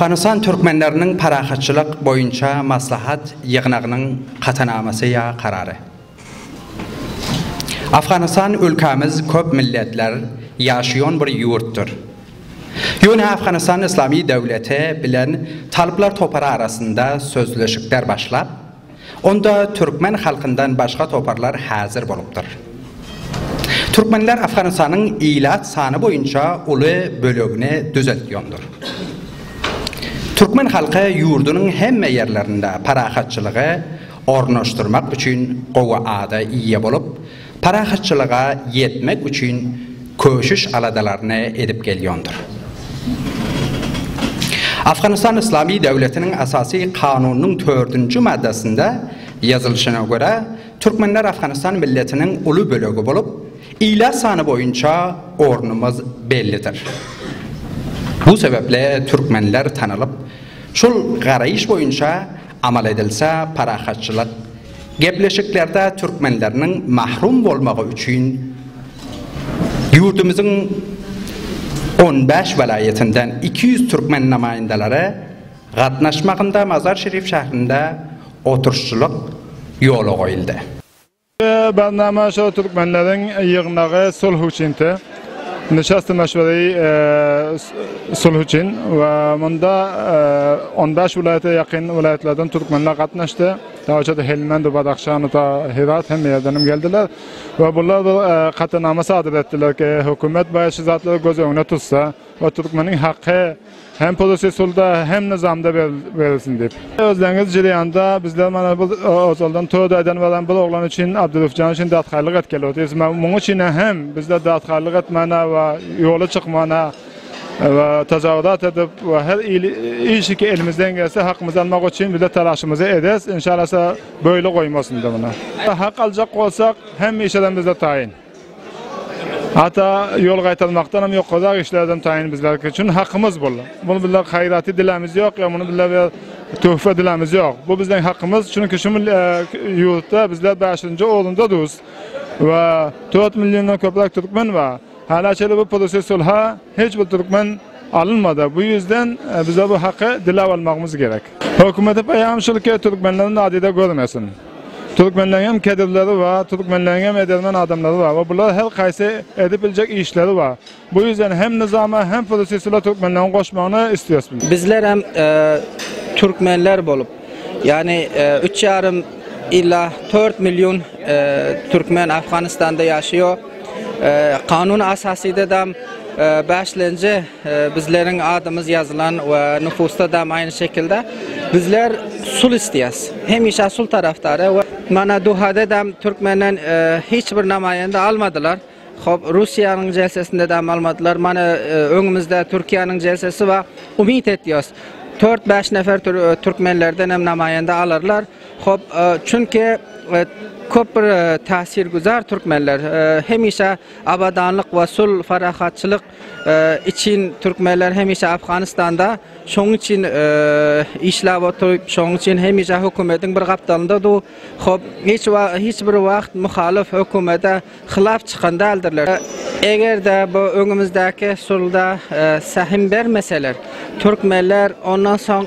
Afganystan türkmenleriniň parahatçylyk boýunça maslahat ýygnagynyň katanamasy ýa karary. Afganystan ülkämiz köp milletler ýaşaýan bir ýurtdyr. Ýöne Afganystan Yslamy döwleti bilen talyplar topary arasynda sözleşikler başlap, onda türkmen halkyndan başga toparlar häzir bolupdyr. Türkmenler Afganystanyň ilat sany boýunça uly bölegini düzetýondyr. Türkmen halky ýurdunyň hemme ýerlerinde parahatçylygy, ornaşdyrmak üçin gowy ada eýe bolup, parahatçylyga ýetmek üçin köşüş-aladalaryny edip gelýondyr. Afganystan Yslamy döwletiniň Esasy Kanunynyň tördünji maddasynda ýazylyşyna görä, türkmenler Afganystan milletiniň uly bölegi bolup, ilat sany boýunça ornumyz bellidir. Bu sebäpli türkmenler tanalyp, şol garaýyş boýunça Amal edilse parahatçylyk gepleşiklerde türkmenleriniň mahrum bolmagy üçin ýurdumyzyň on bäş welaýatyndan iki ýüz türkmen namaýyndalary gatnaşmagynda Mazar-Şerif şährinde oturşçylyk ýola goýuldy. Indi barnama şo türkmenleriň ýygnagy sulh üçinti. Nişast meşweri sulh üçin we munda on bäş welaýata ýakyn welaýatlardan türkmenler gatnaşdy. Dawaçada Helmend, Badahşan, ta Hyrat hemme ýerden hem geldiler we bular bir katanama sadyr etdiler ki, hökümet baýa şu zatlary göz öňüne tutsa we türkmeniň haky, Hem polisi sulda hem nyzamda berilsin diýip. Özleňiz jilýanda bizler mana bu ozaldan toý daýdan baran bir oglan üçin Abdylufjan üçin datgaýlyk etgeli otyrys. Muň üçin hem bizler datgaýlyk etmäne we ýola çykmana we tajawuzat edip we her il işi ki elimizden gelse hakymyzy almak üçin bizler talaşymyzy ederis. Inşalasa böyle goýmasynda muna. Hak aljak bolsak hemişeden bizler taýyn. Hatda ýol gaýtalmakdanam, ýokarak işlerden taýyn bizlerki üçin hakymyz bul. Bul bizler haýraty dilämiz ýok, ýa muny bizler bir töhfe dilämiz ýok. Bu bizleň hakymyz, çünki şu mil ýurtda bizler bäşinji orunda duz we dört milliondan köpräk türkmen ba. Hälä çenli bu pürüsi sulha hiç bir türkmen alynmada. Bu ýüzden bizler bu haky diläp almagymyz gerek. Hökümete peýam şulki, türkmenleri nadide görmesin. Türkmenleň hem kedrleri bar, türkmenleň hem edermen adamlary bar we bular her haýsy edip biljek işleri bar. Bu ýüzden hem nyzama hem prosesula türkmenleň goşmagyny isleýäs biz. Bizler hem türkmenler bolup, ýagny üç ýarym ila tört million türkmen Afganistanda ýaşaýar. Kanun asasyda dam bäşlenje Bizleriň adymyz ýazylan we nupusda dam aýny şekilde. Bizler sul isleýäs. Hemişe sul tarafdary we mana duhada dam türkmenden hiç bir namaýanda almadylar. Hop, Russiýanyň jelsesinde dam almadylar. Mana öňümizde Türkiýäniň jelsesi bar. Umyt etýäs. Tört bäş nefer türkmenlerden hem namaýanda alarlar. Hop, çünki köp bir täsirgüzar türkmenler. Hemişe abadanlyk we sul, parahatçylyk Için Türkmenler hemişe Afganistanda şoň için işlap oturyp şoň için hemişe hökümediň bir gapdalynda dur hop hiç hiç bir wagt muhalyf hökümede hylap çykan däldirler. Egerde bu öňümizdäki sulda sähim bermeseler Türkmenler ondan soň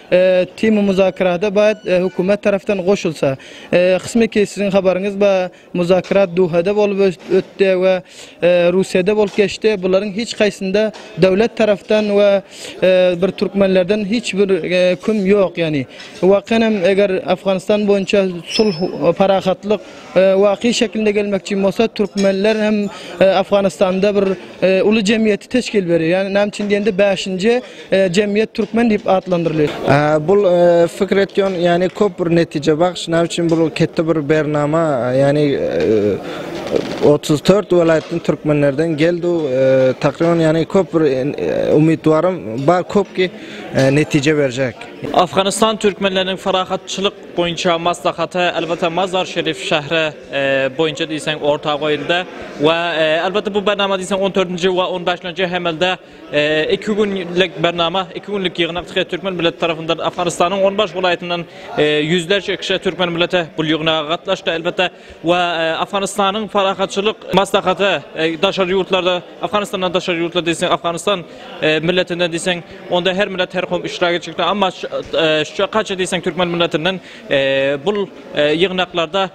Tm muzakerata baýat hökümet tarapdan goşulsa. Kysmy ki siziň habaryňyz ba muzakerat Duhada bolup ötde we Russiýada bolup geçdi bularyň hiç kaýsynda döwlet tarapdan we bir türkmenlerden hiç bir küm ýok ýani. Wakan hem eger Afganistan boýunça sulh parahatlyk Waky şekilinde gelmekçi bolsa türkmenler hem Afganistanda bir uly jemgyýeti teşkil berýär. Ýagny näme üçin diýende bäşinji jemgyýet türkmen diýip atlandyrylýar. Bul pikir etýän ýagny köp bir netije bagş näme üçin bul ketde bir bernama ýagny otuz dört welaýatdan türkmenlerden geldu takryban ýagny köp bir umytwarym bar köp ki netije berjek. Afganistan türkmenleriniň parahatçylyk boýunça maslahata elbetde Mazar Şerif şähri boýunça diýseň orta goýuldy we elbetde bu bernama diýseň 14-nji we 15-nji hemelde iki günlik bernama, iki günlik ýygnak diýip türkmen milleti tarapyndan Afganistanyň 15 welaýatyndan ýüzlerçe kişi türkmen milleti bu ýygnaga gatnaşdy. Elbetde we Afganistanyň parahatçylyk maslahaty daşary ýurtlarda Afganistandan daşary ýurtlarda diýseň Afganistan milletinden diýseň onda her millet her kowum iştirak etjekdir amma şu kaça diýseň türkmen milletinden bul ýygnaklarda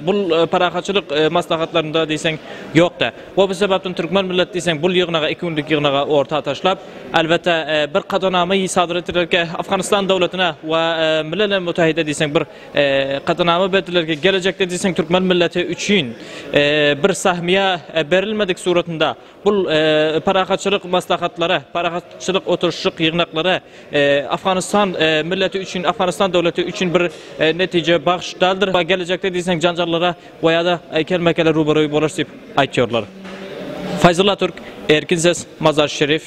bul parahatçylyk maslahatlarynda diýseň ýokda we bu sebäpden türkmen millet diýseň bul ýygnaga iki günlük ýygnaga orta taşlap elbetde bir kadanamy sadyr etdiler ki Afganistan döwletine we milele mütehide diýseň bir Katanama berdiler ki gelejekde diýseň türkmen milleti üçin bir sahmia berilmedik suratynda bul parahatçylyk maslahatlary, parahatçylyk oturşyk ýygnaklary Afganistan milleti üçin, Afganistan döwleti üçin bir netije bagş daldir. Gelejekde diýseň janjallara we ýa-da kelmekele ruberoý bolarys diýip aýtýarlar. Faýzulla Türk, Erkin ses, Mazar Şerif.